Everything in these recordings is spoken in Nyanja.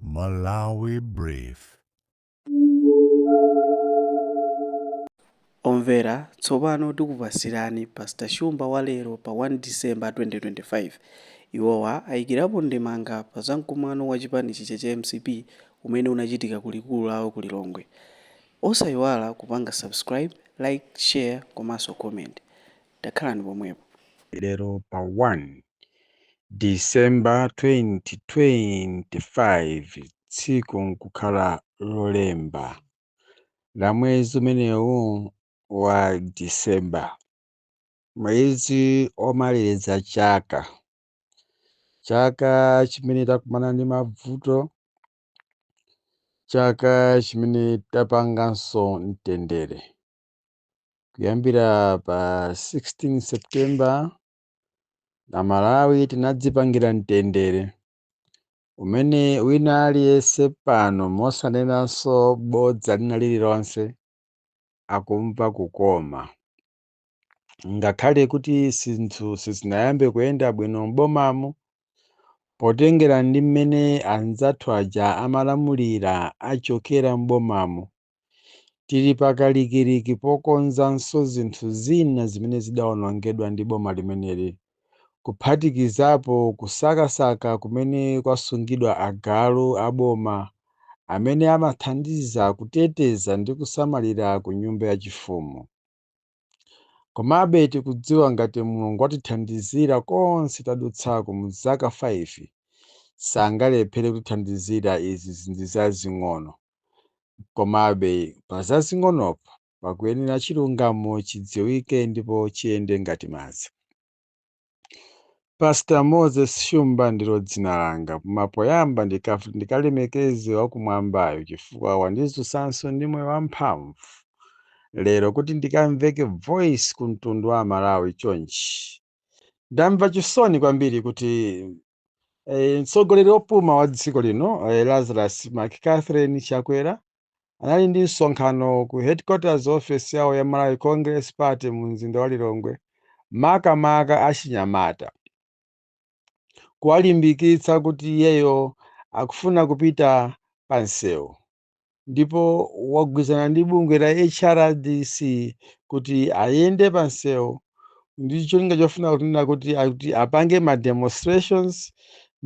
Malawi Brief. Omvera tsopano tikupatsirani Pastor Shumba wa lero pa 1 December 2025. Iwowa ayikirapo ndemanga pa za mkumano wa chipani chija cha MCP umene unachitika ku likulu lawo ku Lilongwe. Osayiwala kupanga subscribe, like, share komanso comment. Takhalani pomwepo. Lero pa 1 December 2025 tsiku nkukhala lolemba la mwezi umenewu wa December mwezi omaliza chaka chaka chimene takumana ndi mavuto chaka chimene tapanganso mtendere kuyambira pa 16 September Amalawi tinadzipangira mtendere umene wina aliyense pano mosanenanso bodza lina lililonse akumva kukoma. Ngakhale kuti zinthu sizinayambe kuyenda bwino m'bomamu potengera ndi mmene anzathu aja amalamulira achokera m'bomamu, Tili pakalikiliki pokonzanso zinthu zina zimene zidaonongedwa ndi boma limeneli, kuphatikizapo kusakasaka kumene kwasungidwa agalu a boma amene amathandiza kuteteza ndi kusamalira ku nyumba yachifumu. Komabe tikudziwa ngati Mulungu watithandizira konse tadutsako mu zaka 5, sangalephere kutithandizira izi izi ndi zazing'ono. Komabe pa zazing'onopo pakuyenera chilungamo chidziwike ndipo chiyende ngati madzi. Pastor Moses Shumba ndilo dzina langa, koma poyamba ndikaf- ndikalemekeze wakumwambayo chifukwa wandidzutsanso ndi moyo wamphamvu lero kuti ndikamveke voice ku mtundu wa Amalawi chonchi. Ndamva chisoni kwambiri kuti Eh, mtsogoleri wopuma wa dziko lino eh, Lazarus McCarthy Chakwera anali ndi msonkhano ku headquarters office yawo ya Malawi Congress Party mu mzinda wa Lilongwe makamaka achinyamata kuwalimbikitsa kuti iyeyo akufuna kupita pa msewu ndipo wagwirizana ndi bungwe la HRDC kuti ayende pa msewu ndi cholinga chofuna kunena kuti akuti apange ma demonstrations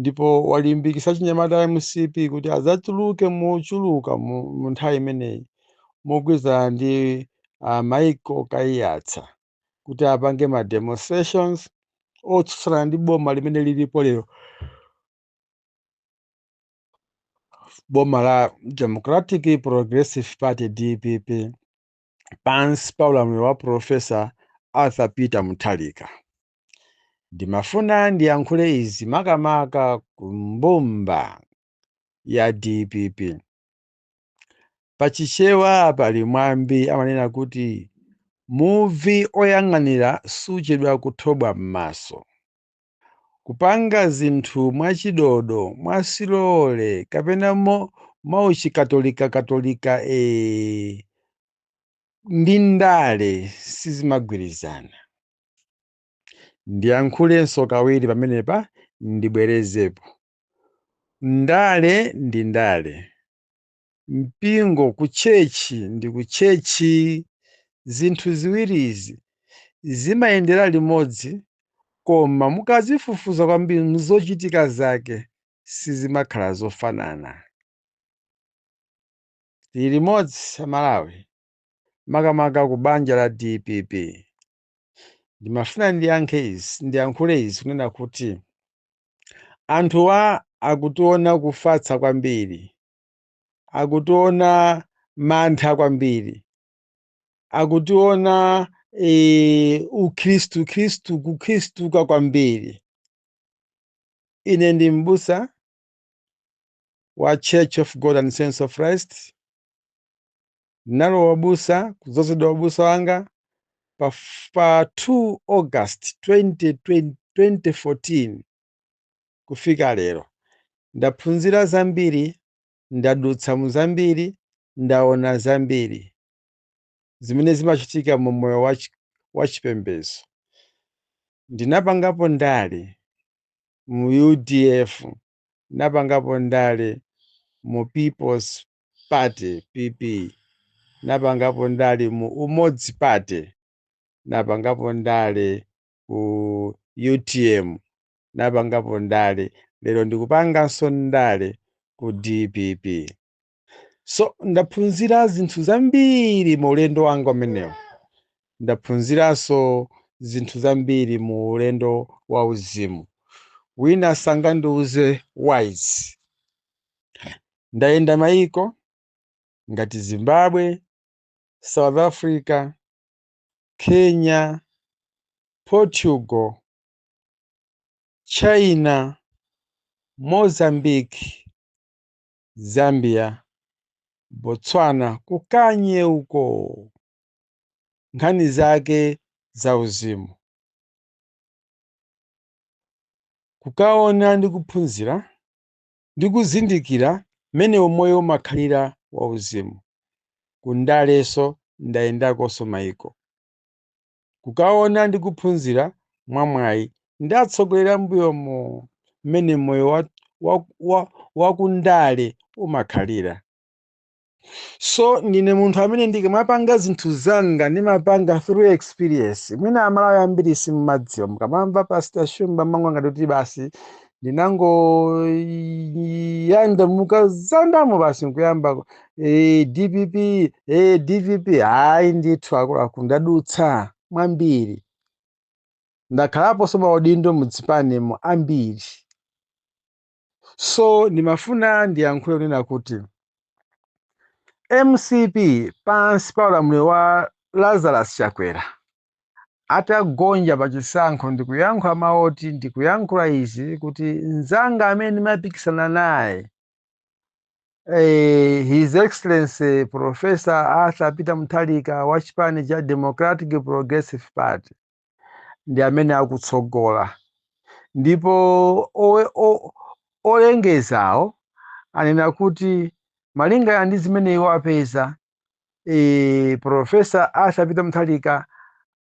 ndipo walimbikitsa achinyamata a MCP kuti adzatuluke mochuluka mu mu nthawi imeneyi mogwirizana ndi uh, Michael Kaiyatsa kuti apange ma demonstrations otsutsana ndi boma limene lilipo lero boma la democratic progressive party dpp pansi pa ulamuliro wa profesa arthur peter mutharika ndimafuna ndiyankhule izi makamaka ku mbumba ya dpp pachichewa pali mwambi amanena kuti muvi oyang'anira suchedwa kuthobwa m'maso Kupanga zinthu mwachidodo, mwasilole, kapena mo, mwachikatolikakatolika, ee, ndi ndale sizimagwirizana. Ndiyankhulenso kawiri pamenepa, ndibwerezepo. Ndale ndi ndale. mpingo ku tchetchi ndi ku tchetchi, zinthu ziwirizi zimayendera limodzi koma mukazifufuza kwambiri mzochitika zake sizimakhala zofanana. Tili limodzi a Malawi, makamaka ku banja la dpp. ndimafuna ndiyankhe izi ndiyankhule izi kunena kuti anthuwa akutiona kufatsa kwambiri akutiona mantha kwambiri akutiona e, ukhristu khristu kukhristuka kwambiri ine ndi m'busa wa Church of God and Saints of Christ nalowa ubusa kudzozedwa ubusa wanga pa, f- pa 2 August 2020 2014 kufika lero ndaphunzira zambiri ndadutsa mu zambiri ndaona zambiri zimene zimachitika mu moyo wa chi- wa chipembedzo ndinapangapo ndale mu udf napangapo ndale mu peoples party pp napangapo ndale mu umodzi party napangapo ndale ku utm napangapo ndale lero ndikupanganso ndale ku dpp so ndaphunzira zinthu zambiri mu ulendo wanga umenewu ndaphunziranso zinthu zambiri mu ulendo wa uzimu wina sangandiuze wise ndayenda mayiko ngati zimbabwe south africa kenya portugal china mozambique Zambia, Botswana ku Kanye uko! Nkhani zake zauzimu. Kukaona ndi kuphunzira ndi kuzindikira mmene umoyo umakhalira wauzimu. Ku ndalenso ndayendakonso maiko. kukaona ndi kuphunzira mwamwayi ndi atsogoleri a m'mbuyomo mmene moyo wa, wa, wa, wa ku ndale umakhalira so ndine munthu amene ndikamapanga zinthu zanga ndimapanga through experience mwina amalawi ambiri simumadziwa mukamamva pastor shumba mumangoona ngati kuti basi ndinangoyalamuka zandamo basi nkuyamba e, dpp e, dpp ayi ndithu akuluakulu ndadutsa mwambiri ndakhalaponso maudindo muzipanimo ambiri so ndimafuna ndiyankhule kunena kuti mcp pansi pa ulamuliro wa lazarus chakwera atagonja pa chisankho ndikuyankhula mawoti ndikuyankhula izi kuti mzanga amene ndimapikisana naye Eh, His Excellency Professor Arthur Peter Mutharika wa chipani cha Democratic Progressive Party ndi amene akutsogola ndipo owe- o- olengezawo anena kuti malinga ndi zimene iwo apeza e, profesa arthur peter mutharika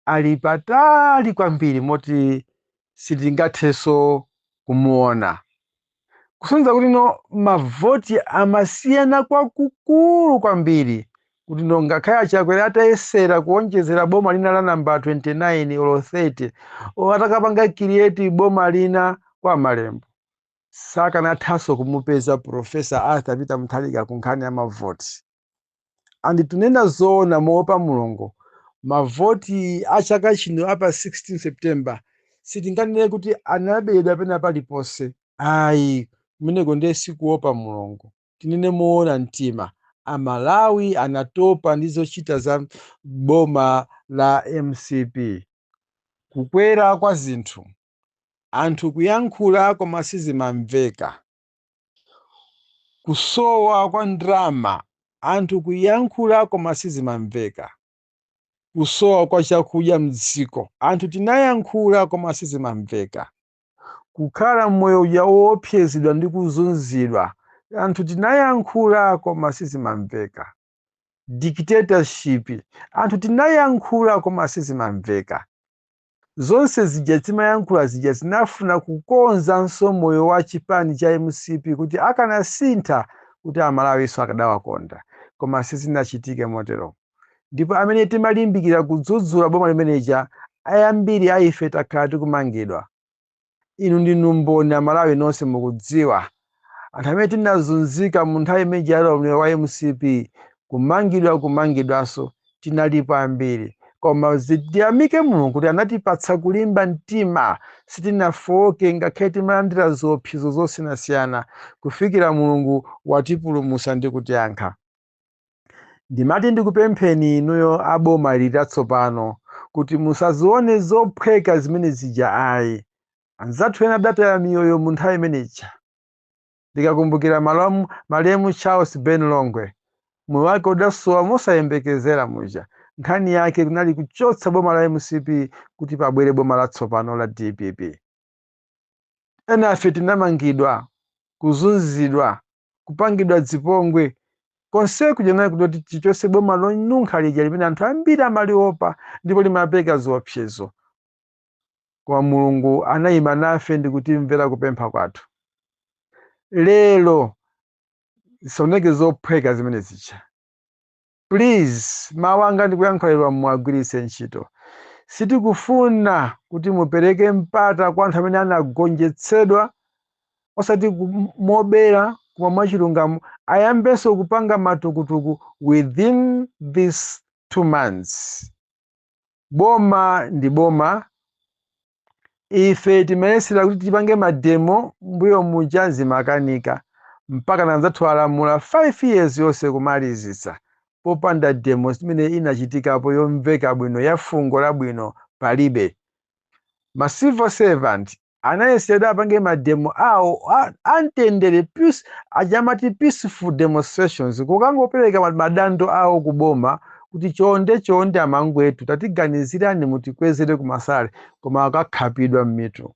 ali patali kwambiri moti sitingathenso kumuona kusonyeza kuti no mavoti amasiyana kwakukulu kwambiri kuti no ngakhale achakwera atayesera kuonjezera boma lina la namba 29 olo 30 o atakapanga create boma lina kwa malembo sakanathanso kumupeza Prof. Arthur Peter Mutharika ku nkhani ya mavoti. And tinene zoona moopa Mulungu, mavoti a chaka chino a pa 16 September sitinganene kuti anaberedwa pena paliponse. Ayi, kumeneko ndiye sikuopa Mulungu. Tinene moona mtima, Amalawi anatopa ndi zochita za boma la mcp. Kukwera kwa zinthu, Anthu kuyankhula koma sizimamveka. Kusowa kwa ndalama. Anthu kuyankhula koma sizimamveka. Kusowa kwa chakudya mdziko. Anthu tinayankhula koma sizimamveka. Kukhala moyo uja woopsezedwa ndi kuzunzidwa. Anthu tinayankhula koma sizimamveka. Dictatorship. Anthu tinayankhula koma sizimamveka. zonse zija timayankhula zija zinafuna kukonzanso moyo wa chipani cha mcp kuti akanasintha kuti amalawinso akadawakonda koma sizinachitike motero ndipo amene timalimbikira kudzudzula boma limene lija ayambiri aife takhala tikumangidwa inu ndinu mboni amalawi nonse mukudziwa anthu amene tinazunzika mu nthawi imene ija ya ulamuliro wa mcp kumangidwa kumangidwanso tinalipo ambiri koma tiyamike mulungu kuti anatipatsa kulimba mtima sitinafowoke ngakhale timalandira ziopsezo zosiyanasiyana kufikira mulungu watipulumutsa ndi kutiyankha ndimati ndikupempheni inuyo a boma latsopano kuti musazione zophweka zimene zija ayi anzathu ena adataya miyoyo mu nthawi imene ija ndikakumbukira malemu charles ben longwe moyo wake udasowa mosayembekezera muja nkhani yake kunali kuchotsa boma la mcp kuti pabwere boma latsopano la dpp enafe tinamangidwa kuzunzidwa kupangidwa zipongwe konse kuja kunali kuti tichotse boma lonunkha lija limene anthu ambiri amaliopa ndipo limapereka ziopsezo koma mulungu anayima nafe ndi kutimvera kupempha kwathu lero zisaoneke zophweka zimene zija Please mawu anga ndikuyankhulawa muwagwiritse ntchito. Sitikufuna kuti mupereke mpata kwa anthu amene anagonjetsedwa osati mobera koma mwachilungamo ayambenso kupanga matukutuku within these two months. boma ndi boma ife timayesera kuti tipange mademo mbuyo muja zimakanika mpakana anzathu alamula 5 years yonse kumalizitsa popanda demo imene inachitikapo yomveka bwino ya fungo labwino palibe ma civil servant anayesera apange mademo awo amtendere aja amati peaceful demonstrations kukangopereka madando awo ku boma kuti chonde chonde amangwetu tatiganizirani mutikwezere kumasalary koma akakhapidwa m'mitu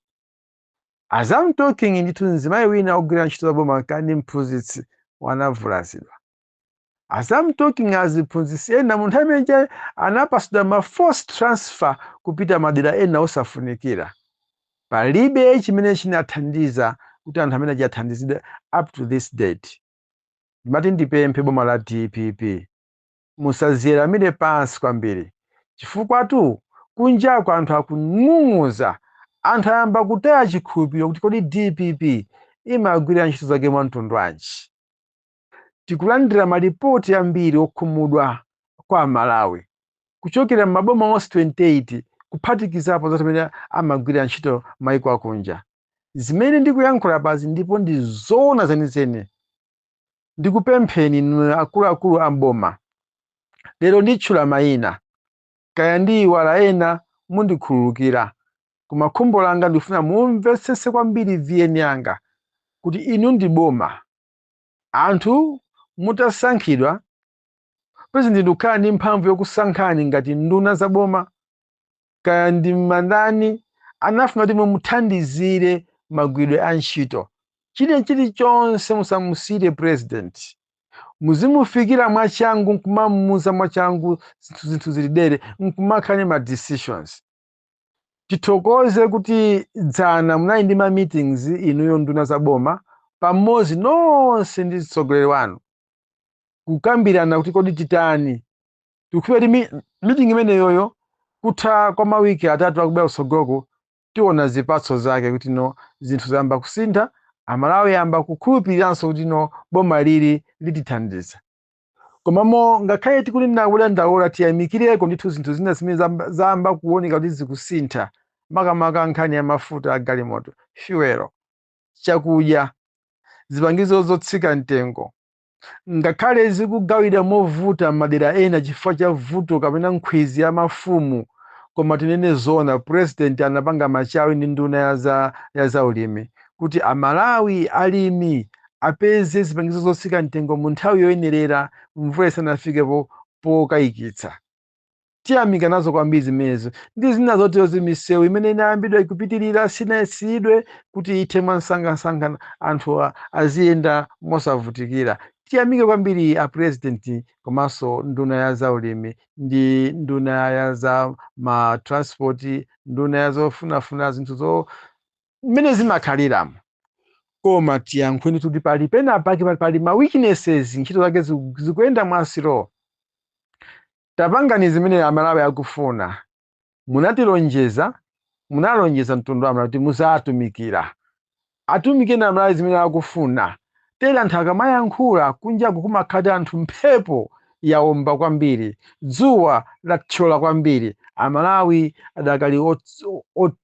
as I'm talking ndithu mzimayi wina ogwira ntchito za boma kani mphunzitsi wanavulazidwa as am talking aziphunzitsi ena mu nthawi imene ija anapatsidwa ma forced transfer kupita madera ena osafunikira palibe chimene chinathandiza kuti anthu amene aja athandizidwe up to this date ndimati ndipemphe boma la dpp musaweramire pansi kwambiri chifukwatu kunjako anthu akung'ung'uza anthu ayamba kutaya chikhulupiriro kuti kodi dpp imagwira ntchito zake mwa mtundu wanji tikulandira malipoti ambiri okhumudwa kwa amalawi kuchokera m'maboma onse 28 kuphatikizapo za amene amagwira ntchito maiko akunja zimene ndikuyankhula apazi ndipo ndi zoona zenizeni ndikupempheni inu akuluakulu a m'boma lero nditchula mayina kaya ndiiwala ena mundikhululukira koma khumbo langa ndikufuna mumvetsese kwambiri VN yanga kuti inu ndi boma Anthu mutasankhidwa, pulezidenti n'kukhala ndi mphamvu yokusankhani ngati nduna za boma, kaya ndi mandani, anafuna kuti mumuthandizire magwiridwe a ntchito. China chilichonse musamusiyire pulezidenti. Muzimufikira mwachangu n'kumamuuza mwachangu zinthu zili tere n'kumakhala ndi ma decisions. tithokoze kuti dzana munali ndi ma meetings inuyo nduna za boma pamodzi nonse ndi mtsogoleri wanu kukambirana kuti kodi titani tikhulupirira kuti meeting imeneyoyo kutha kwa mawiki atatu akubwera kutsogoloko tiona zipatso zake kuti no zinthu zayamba kusintha amalawi ayamba kukhulupiriranso kuti no boma lili litithandiza Komabe ngakhale tikutere ndi kudandaula, tiyamikireko ndithu zinthu zina zimene zayamba kuoneka kuti zikusintha, makamaka nkhani ya mafuta a galimoto, fuel, chakudya, zipangizo zotsika mtengo. Ngakhale zikugawidwa movuta madera ena chifukwa cha vuto kapena nkhwidzi ya mafumu, koma tinene zoona President anapanga machawi ndi nduna ya zaulimi kuti a Malawi, alimi, apeze zipangizo zotsika mtengo mu nthawi yoyenerera mvula isanafike popokayikitsa. Tiyamika nazo kwambiri zimenezo ndi zina zoterozi misewu imene inayambidwa ikupitirira sinaimitsidwe kuti ithe mwansangansanga anthu aziyenda mosavutikira. Tiyamike kwambiri a President komanso nduna ya zaulimi ndi nduna ya za ma transport, nduna ya zofunafuna zinthu zo mmene zimakhaliramo koma tiyankhuleni kuti pali pena pake pali ma weaknesses ntchito zake zikuyenda mwa slow tapangani zimene amalawi akufuna munatilonjeza munalonjeza mtundu wa amalawi kuti muzatumikira atumikeni amalawi zimene akufuna tere anthu akamayankhula kunjaku kumakhala ngati anthu mphepo yaomba kwambiri dzuwa latchola kwambiri amalawi adakali ot- ot-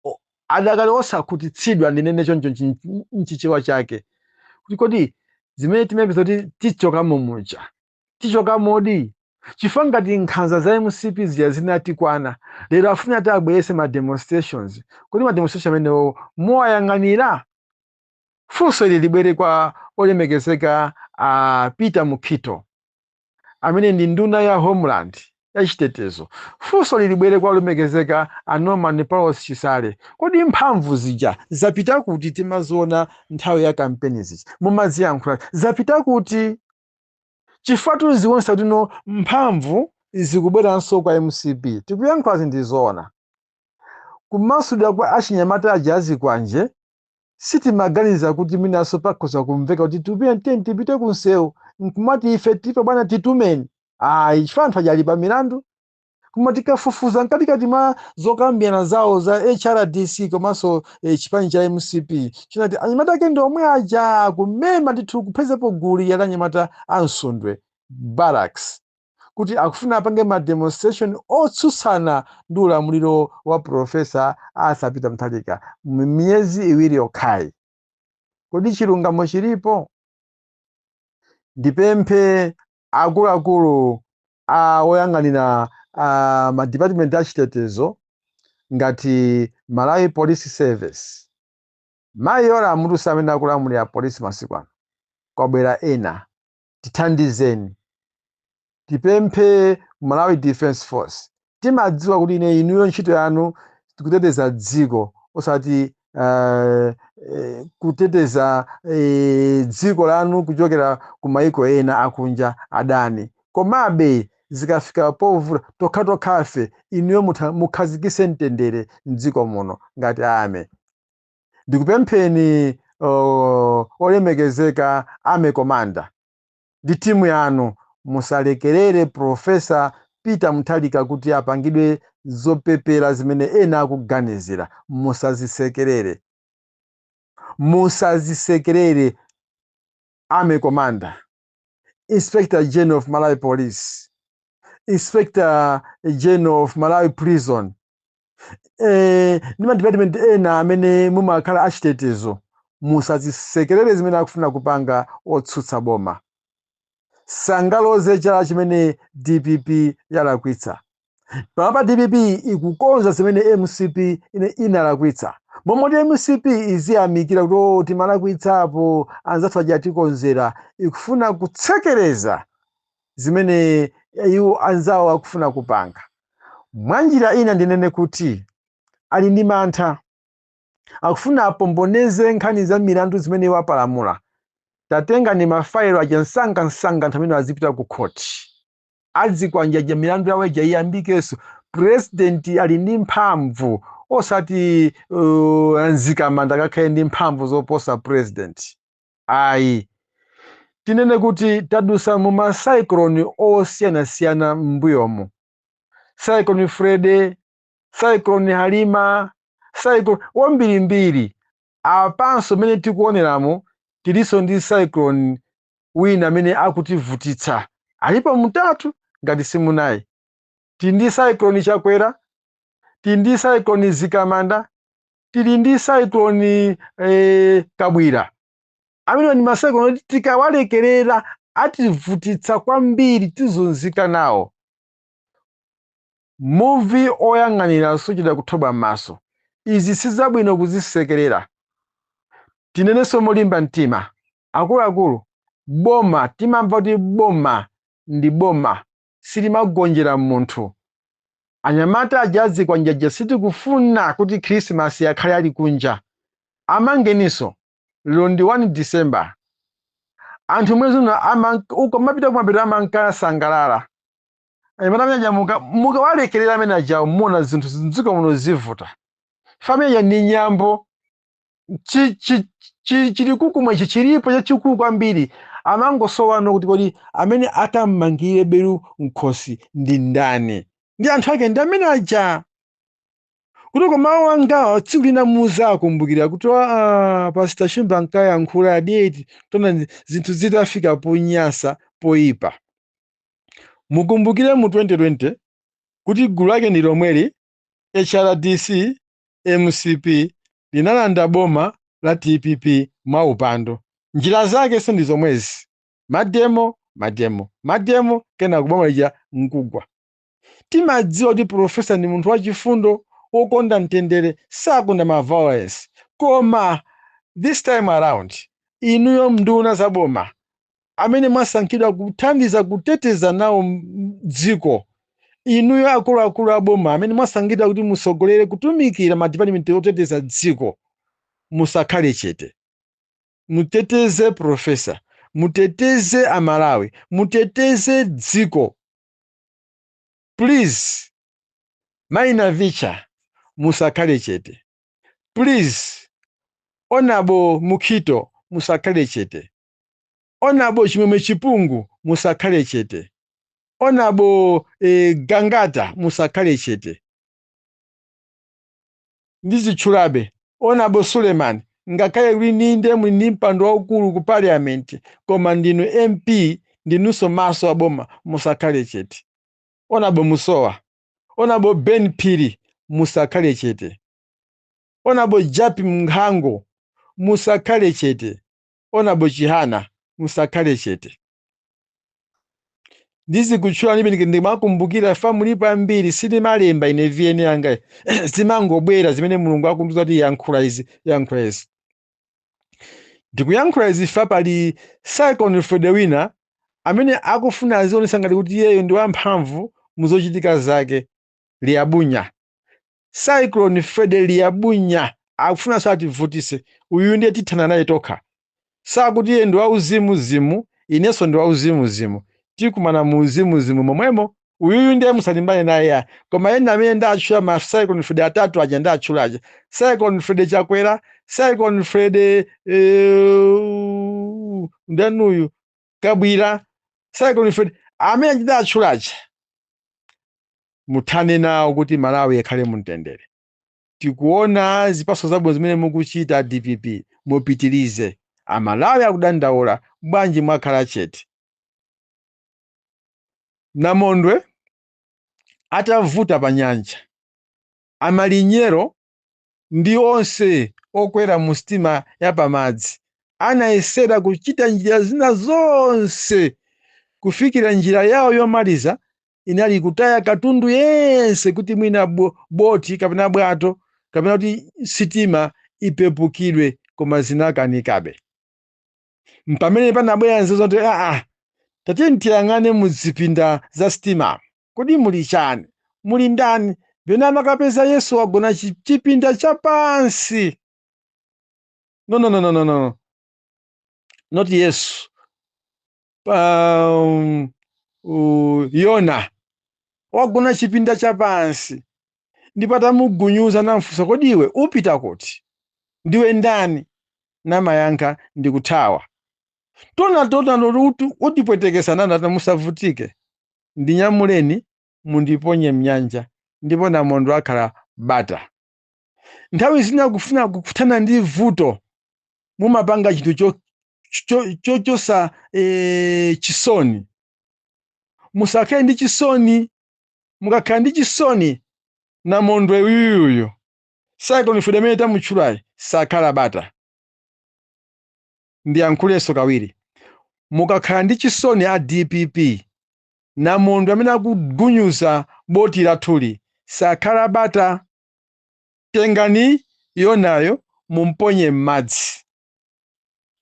o- adakali osakhutitsidwa ndinene choncho nchi- nchi- nchichewa chake kuti kodi zimene timayembeza kuti tichokamo muja tichokamodi chifukwa ngati nkhanza za mcp zija zinatikwana lero afuna ati abweretse ma demonstrations kodi ma demonstration amenewo muwayang'anira funso ili libwere kwa olemekezeka a peter mukhito amene ndi nduna ya homeland ya chitetezo, funsoli libwere kwa olemekezeka a Norman Paulos Chisale, kodi mphamvu zija zapita kuti timaziona nthawi ya kampeni zija mumaziyankhula zapita kuti? Chifukwa zikuonetsa kuti no mphamvu zikubweranso kwa mcp tikuyankhulazi ndi zoona. Kumasulidwa kwa achinyamata aja azikwanje sitimaganiza kuti mwinanso pakhoza kumveka kuti tipite tiyeni tipite ku msewu nkumati ife tipo bwana titumeni ayi chifukwa anthu aja ali pa milandu koma tikafufuza mkatikati mwa zokambirana zawo za hrdc komanso eh, chipani cha mcp chinati anyamata ake ndi omwe aja kumema ndithu kuphatikizapo gulu la anyamata a msundwe barracks kuti akufuna apange ma demonstration otsutsana ndi ulamuliro wa Professor Arthur Peter Mutharika mu miyezi iwiri yokhayi. Kodi chilungamo chilipo? Ndipemphe akuluakulu oyang'anira ma department a chitetezo ngati Malawi Police Service. Mayi Yolamu tu sa amene akulamulira polisi masiku ano kwabwera ena tithandizeni tipemphe malawi defense force timadziwa kuti ine inuyo ntchito yanu ndi kuteteza dziko osati uh, eh, kuteteza eh, dziko lanu kuchokera ku maiko ena akunja adani komabe zikafika povuta tokhatokhafe inuyo mutha- mukhazikitse mtendere mdziko muno ngati army ndikupempheni oh, olemekezeka army commander ndi timu yanu musalekerere profesa peter mutharika kuti apangidwe zopepera zimene ena akuganizira musazisekerere musazisekerere army commander inspector general of malawi police inspector general of malawi prison eh, ndi madipatimenti ena amene mumakhala achitetezo musazisekerere zimene akufuna kupanga otsutsa boma sangaloze chinthu chimene dpp yalakwitsa panopa dpp ikukonza zimene mcp ina inalakwitsa momoti mcp iziyamikira kuti "Oh, timalakwitsapo anzathu aja atikonzera ikufuna kutsekereza zimene iwo anzawo akufuna kupanga. Mwa njira ina ndinene kuti ali ndi mantha, akufuna apomboneze nkhani za milandu zimene iwo apalamula. Tatengani mafaelo aja msangamsanga anthu amene azipita ku khoti. Azikwanje aja milandu yawo ija iyambikenso. Pulezidenti ali ndi mphamvu osati a Mzikamanda akakhale ndi mphamvu zoposa pulezidenti. Ayi. Tinene kuti tadutsa mu ma cyclone osiyanasiyana m'mbuyomu. Cyclone Freddy, Cyclone Halima, cyclone wambirimbiri. Apanso mmene tikuoneramu tilinso ndi cyclone wina amene akutivutitsa. Alipo mutatu ngati si munayi. Tili ndi cyclone Chakwera, tili ndi cyclone Mzikamanda, tili ndi cyclone eh, Kabwila amene ndi macyclone oti tikawalekerera ativutitsa kwambiri tizunzika nawo muvi oyang'anira suchedwa kuthoba m'maso izi sizabwino kuzisekerera tinenenso molimba mtima akuluakulu boma timamva kuti boma ndi boma silimagonjera munthu. Anyamata aja azikwanje aja sitikufuna kuti Khirisimasi akhale ali kunja. Amangeninso. Lero ndi 1 December. Anthu mwezi uno amanka- ukamapita kumapeto amankasangalala. Anyamata amene aja muka- mukawalekerera amene aja muona zinthu mdziko muno zivuta. Amene aja ndi nyambo. chi- chi- chi- chilikukumwa ichi chilipo chachikulu kwambiri amangosowano kuti kodi amene atammangire belu mkhosi ndi ndani ndi anthu ake ndi amene aja kutoko mawu angawa tsiku lina muzawakumbukira kuti aa Pastor Shumba ankayankhula adati taonani zinthu zitafika ponyasa poyipa mukumbukire mu 2020 kuti gulu lake ndi lomweli HRDC, mcp linalanda boma la dpp mwaupandu. Njira zakenso ndi zomwezi, mademo, mademo, mademo kenako boma lija n'kugwa. Timadziwa kuti Pulofesa ndi munthu wachifundo, wokonda mtendere, sakonda ma violence. Koma this time around, inuyo m'nduna za boma amene mwasankhidwa kuthandiza kuteteza nawo dziko, inuyo akuluakulu a boma amene mwasankhidwa kuti mutsogolere kutumikira madipatimenti oteteza dziko, musakhale chete. Muteteze Pulofesa, muteteze Amalawi, muteteze dziko. Please. Mayi Navicha, musakhale chete. Please. Hon. Mukhito, musakhale chete. onabo chimwemwe chipungu musakhale chete onabo eh, gangata musakhale chete ndizitchulabe onabo suleman ngakhale kuti inde muli ndi mpando waukulu ku parliament koma ndinu mp ndinunso maso aboma musakhale chete onabo musowa onabo ben phiri musakhale chete onabo japi mnkhango musakhale chete Onabo Chihana musakhale chete. Ndizikutchulani imeneyi ndimakumbukira chifukwa mulipo ambiri sindimalemba ine VN yanga zimangobwera zimene Mulungu akundiuza kuti yankhula izi yankhula izi. Ndikuyankhula izi chifukwa pali Cyclone Fred wina amene akufuna azionetsa ngati kuti iyeyo ndi wamphamvu mu zochitika zake liyabunya cyclone freddy liyabunya akufunanso ativutise uyu ndiye tithana naye tokha zakuti iye ndi wauzimuzimu inenso ndi wauzimuzimu tikumana mu uzimuzimu momwemo uyuyu ndiye musalimbane naye ya koma ena amene ndatchula ma cyclone freddy atatu aja ndawatchula aja cyclone freddy chakwera cyclone freddy eh, ndani uyu kabwira cyclone fred amene ndawatchula aja muthane nawo kuti malawi akhale mumtendere tikuona zipatso zabwino zimene mukuchita a dpp mupitirize amalawi akudandaula bwanji mwakhala chete namondwe atavuta pa nyanja amalinyero ndi onse okwera mu sitima ya pamadzi anayesera kuchita njira zina zonse kufikira njira yawo yomaliza inali kutaya katundu yense kuti mwina bo- boti kapena bwato kapena kuti sitima ipepukidwe koma zinakanikabe mpamene panabwera nzeru zoti aa tatiyeni tiyang'ane mu zipinda za sitima Kodi muli chani? Muli ndani? Then anakapeza Yesu wagona chi chipinda cha pansi. No, no, no, no, no, no, no. Not Yesu. Um, uh, Yona wagona chipinda cha pansi ndipo atamugunyuza namfunsa, kodi iwe upita kuti? Ndiwe ndani? Namayankha, ndikuthawa. Tona tona utipwetekesa nana tamusavutike. Ndinyamuleni mundiponye m'nyanja, ndipo namondwe akhala bata. Nthawi zina kufuna kuthana ndi vuto mumapanga chinthu cho- cho- cho- chosa eh, chisoni. Musakhale ndi chisoni. Mukakhala ndi chisoni, namondwe uyuyuyu Cyclone Fred amene tamutchulayi sakhala bata. ndiyankhulenso kawiri mukakhala ndi chisoni a dpp namondwe amene akugunyuza boti lathuli sakhala bata tengani yonayo mumponye m'madzi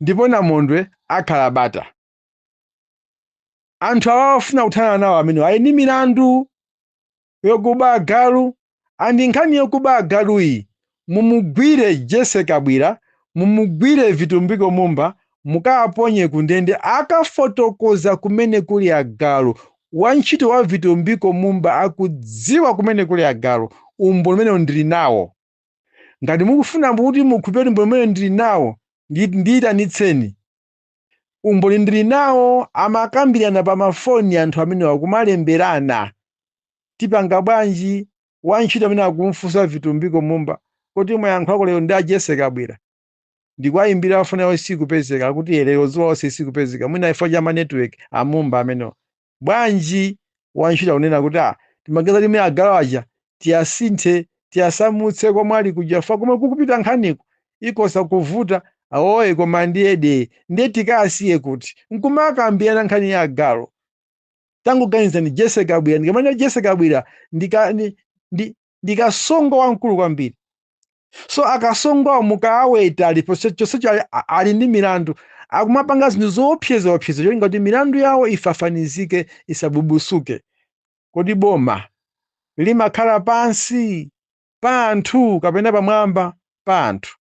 ndipo namondwe akhala bata anthu awa afuna kuthana nawo amenewo ali ndi milandu yokuba agalu andi nkhani yokuba agaluyi mumugwire jese kabwira mumugwire vitumbiko mumba mukawaponye kundende akafotokoza kumene kuli agalu wantchito wa vitumbiko mumba akudziwa kumene kuli agalu umboni umene ndili nawo ngati mukufuna kuti mukhulupirire umboni umene ndili nawo ndiyitanitseni Umboni ndili nawo amakambirana pa ma phone anthu amenewa kumalemberana. Tipanga bwanji? Wa ntchito amene akumfunsa Vitumbiko Mumba kuti mwayankhulako lero ndi a Jesse Kabwira? Ndikuwayimbira phone yawo sikupezeka akuti ee lero dzuwa lonse sikupezeka mwina chifukwa cha ma network a Mumba amenewa. Bwanji wantchito akunena kuti, ah, timaganiza kuti mene agalu aja tiyasinthe, tiyasamutse komwe ali kuja chifukwa komwe kukupita nkhaniku ikhoza kuvuta. Awoye koma ndiye dee. Ndiye tikasiye kuti? N'kumakambirana nkhani ya agalu. Tangoganizani Jesse Kabwira. Ndikamati Jesse Kabwira ndi kasongo wamkulu kwambiri so akasongowa mukuwaweta ali chonsecho ali, ali ndi milandu akumapanga zinthu zoopseza opseza cholinga kuti milandu yawo ifafanizike isabubusuke kodi boma limakhala pansi pa anthu kapena pamwamba pa anthu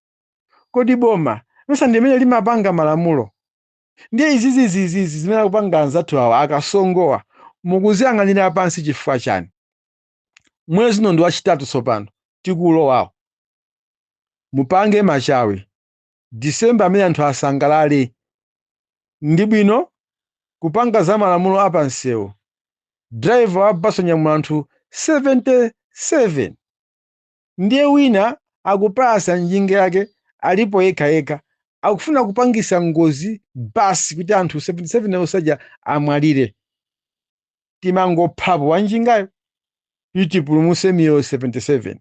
kodi boma mesa ndi limene limapanga malamulo ndiye izizizizizi zimene akupanga anzathu awa akasongowa mukuziyang'anira pansi chifukwa chani mwezi uno ndi wachitatu tsopano tikulowawu mupange machawi disemba amene anthu asangalale ndi bwino kupanga za malamulo a pansewu driver wa bus onyamula anthu 77 ndiye wina akupalasa njinga yake alipo yekha yekha akufuna kupangisa ngozi basi kuti anthu 77 onse aja amwalire timangophapo wanjingayo kuti tipulumuse miyoyo 77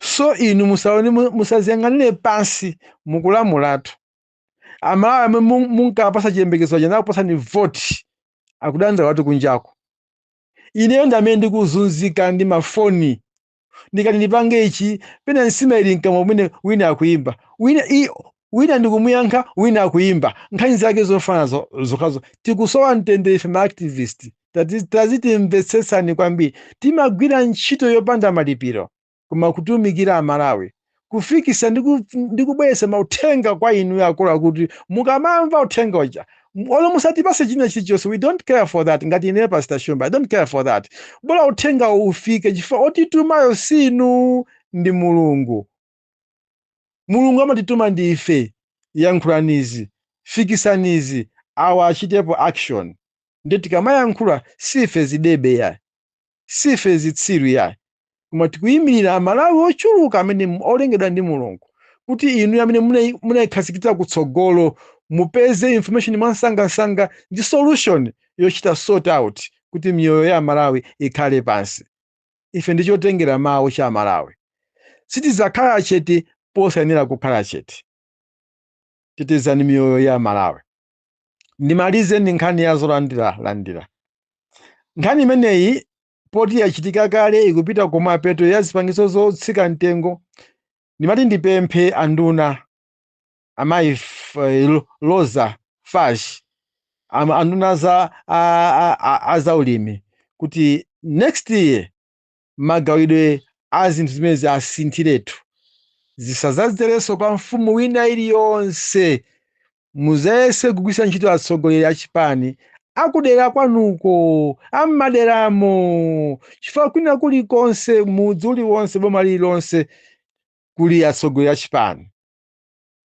so inu musaone musaziyang'anire pansi mukulamulatu amalawi omwe munkawapatsa chiyembekezo aja nakupatsani voti akudandaulatu kunjako ineyo ndamene ndikuzunzika ndi mafoni ndikati ndipange ichi pena nsima ili mkamwa kumene wina akuyimba wina wina ndikumuyankha wina akuyimba nkhani zake zofanana zokhazo tikusowa mtendere ife maactivist tazitimvetsetsani kwambiri timagwira ntchito yopanda malipiro koma kutumikira amalawi kufikisa ndi ku- ndi kubweretsa mauthenga kwa inuyo akulu kuti mukamamva uthenga uja m- olo musatipase china chilichonse we don't care for that ngati ine pastor shumba i don't care for that bola uthenga ufike chifukwa otitumayo si inu ndi mulungu mulungu amatituma ndi ife yankhulanizi fikisanizi awa achitepo action ndi tikamayankhula si ife zidebe ya Siife zitsiru yayi, koma tikuyimirira Amalawi ochuluka amene olengedwa ndi Mulungu kuti inu amene munaikhazikitsa kutsogolo mupeze information mwansangansanga ndi solution yochita sort out kuti miyoyo ya Amalawi ikhale pansi. Ife ndi chotengera mawu cha Amalawi. Sitidzakhala chete posayenera kukhala chete. Tetezani miyoyo ya Amalawi. ndimalize ndi nkhani ya zolandira landira nkhani imeneyi poti yachitika kale ikupita kumapeto ya zipangizo zotsika mtengo ndimati ndipemphe anduna amayi F- eh, Ro- roza fatch ama- anduna za a- a- a- a zaulimi kuti next year magawidwe a zinthu zimenezi asinthiretu, zisadzazerenso kwa mfumu wina iliyonse. Mudzayese kugwiritsa ntchito atsogoleri a chipani akudera kwanuko, a m'maderamo, chifukwa kwina kulikonse, mudzi uliwonse, boma lililonse kuli atsogoleri a chipani.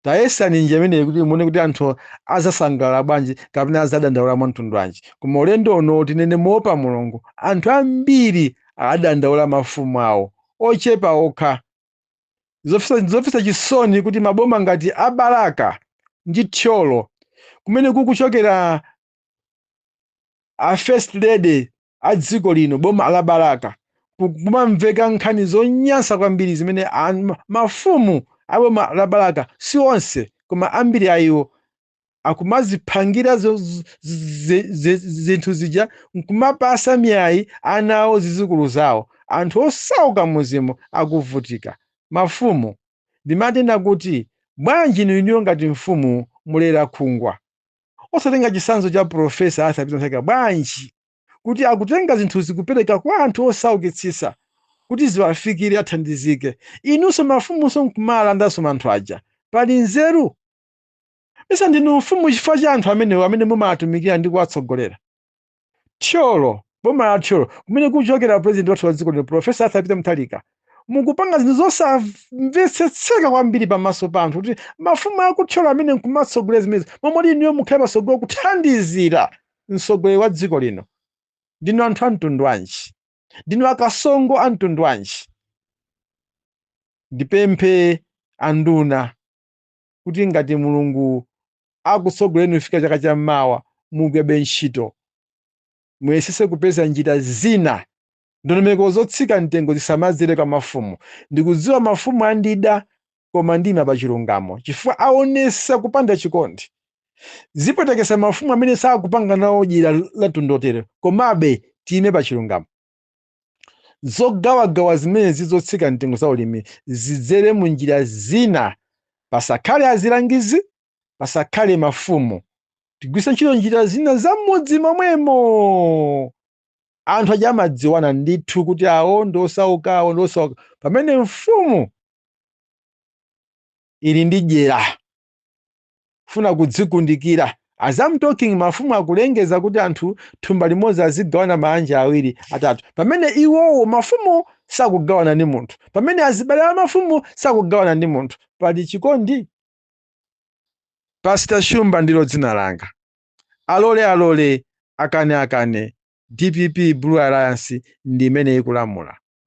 Tayesani njira imeneyi kuti muone kuti anthu adzasangalala bwanji kapena adzadandaula mwamtundu wanji. Koma ulendo uno, tinene moopa Mulungu, anthu ambiri adandaula mafumu awo, ochepa okha. N'zomvetsa chisoni kuti maboma ngati a Balaka ndi Thyolo, kumene kukuchokera a First Lady, a dziko lino boma la Balaka ku- kumamveka nkhani zonyansa kwambiri zimene an- ma- mafumu a boma la Balaka si onse koma ambiri a iwo akumaziphangira zo- z- z- z- zinthu zija nkumapasa miyayi ana awo zizukulu zawo anthu osauka m'mudzimo akuvutika mafumu ndimatenda kuti bwanji inu inuyo ngati mfumu mulerakhungwa osatenga chitsanzo cha Pulofesa Arthur Peter Mutharika bwanji kuti akutenga zinthuzi kupereka kwa anthu osaukitsitsa kuti ziwafikire athandizike? Inunso mafumunso n'kumalandanso anthu aja, pali nzeru? Mesa ndinu mfumu chifukwa cha anthu amenewo amene mumawatumikira ndi kuwatsogolera. Thyolo, boma la Thyolo, kumene kuchokera pulezidenti wathu wa dziko lino Professor Arthur Peter Mutharika, mukupanga zinthu zosamvetsetseka kwambiri pamaso pa anthu kuti mafumu a ku Thyolo amene nkumatsogolera zimenezi, mmomwe muti inuyo mukhale patsogolo kuthandizira mtsogoleri wa dziko lino. Ndinu anthu a mtundu wanji? Ndinu akasongo a mtundu wanji? Ndipemphe anduna kuti ngati Mulungu akutsogolereni kufika chaka cha mmawa mugwirebe ntchito. Muyesese kupeza njira zina. Ndondomeko zotsika mtengo zisamadzere kwa mafumu. Ndikudziwa mafumu andida koma ndiyima pa chilungamo chifukwa awonesa kupanda chikondi. Zipwetekesa mafumu amene sakupanga nawo dyera la mtundu wotere komabe tiyime pa chilungamo. zogawagawa zimenezi zotsika mtengo za ulimi zidzere mu njira zina pasakhale azilangizi pasakhale mafumu tigwiritse ntchito njira zina za m'mudzi momwemo anthu aja amadziwana ndithu kuti awo ndi osauka awo ndi osauka pamene mfumu ili ndi dyera funa kudzikundikira as I'm talking mafumu akulengeza kuti anthu thumba limodzi azigawana maanja awiri atatu pamene iwowo mafumu sakugawana ndi munthu pamene azibale a mafumu sakugawana ndi munthu pali chikondi pastor shumba ndilo dzina langa alole alole akane akane dpp blue alliance ndi imene ikulamula